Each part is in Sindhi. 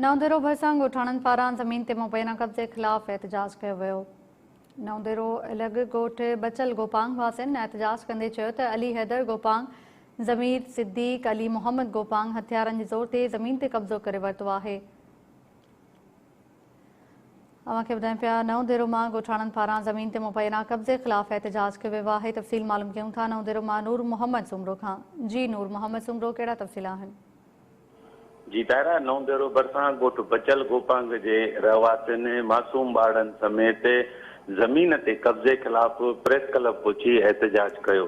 نونديرو ڀرسان ڳوٺاڻن پاران زمين تي مبينا قبضي خلاف احتجاج ڪيو ويو نونديرو الڳ ڳوٺ بچل گوپانگ واسين احتجاج ڪندي چيو ته علي حيدر گوپانگ، ضمير صديق، علي محمد گوپانگ هٿيارن جي زور تي زمين تي قبضو ڪري ورتو آهي. اوهان کي ٻڌايون پيا نونديرو مان ڳوٺاڻن پاران زمين تي مبينا قبضي خلاف احتجاج ڪيو ويو آهي تفصيل معلوم ڪيون ٿا نونديرو مان نور محمد سومرو کان جي نور محمد سومرو ڪهڙا تفصيل آهن. جي دائره نونديرو ڀرسان ڳوٺ بچل گوپانگ جي رهواسين معصوم ٻارڙن سميت زمين تي قبضي خلاف پريس ڪلب پهچي احتجاج ڪيو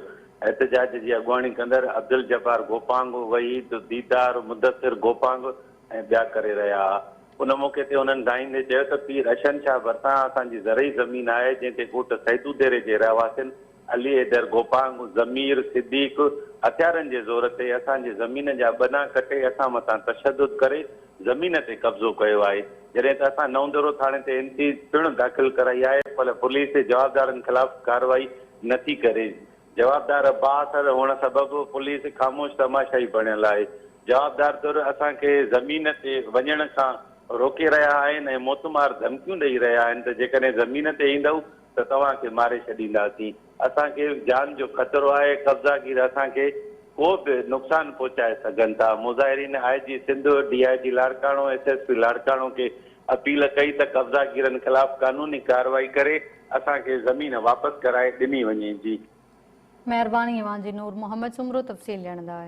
احتجاج جي اڳواڻي ڪندڙ عبدالجبار گوپانگ وحيد ديدار مدثر گوپانگ ۽ ٻيا ڪري رهيا ها ان موقعي تي انهن ڳائيندي چيو ته پير اشهن شاهه ڀرسان اسان جي زرعي زمين آهي جنهن تي ڳوٺ سيدوديري جي رهواسين علي حيدر گوپانگ، ضمير صديق هٿيارن جي زور تي اسان جي زمين جا ٻنا ڪٽي اسان مٿان تشدد ڪري زمين تي قبضو ڪيو آهي جڏهن ته اسان نئون دورو ٿاڻي تي اين سي پڻ داخل ڪرائي آهي پر پوليس جوابدارن خلاف ڪارروائي نٿي ڪري جوابدار بااثر هئڻ سبب پوليس خاموش تماشائي بڻيل آهي جوابدار ڌر اسان کي زمين تي وڃڻ کان روڪي رهيا آهن ۽ موتمار ڌمڪيون ڏئي رهيا آهن ته جيڪڏهن زمين تي ايندؤ ته توهان کي ماري ڇڏينداسين. اسان کي جان جو خطرو آهي، قبضا گير اسان کي ڪو به نقصان پهچائي سگهن ٿا. مظاهرين I G Sindh, D I G Larkana, S S P Larkana کي اپيل ڪئي ته قبضا گيرن خلاف قانوني ڪارروائي ڪري اسان کي زمين واپس ڪرائي ڏني وڃي. جي. مهرباني اوهان جي نور محمد سومرو تفصيل ڏيڻ لاء.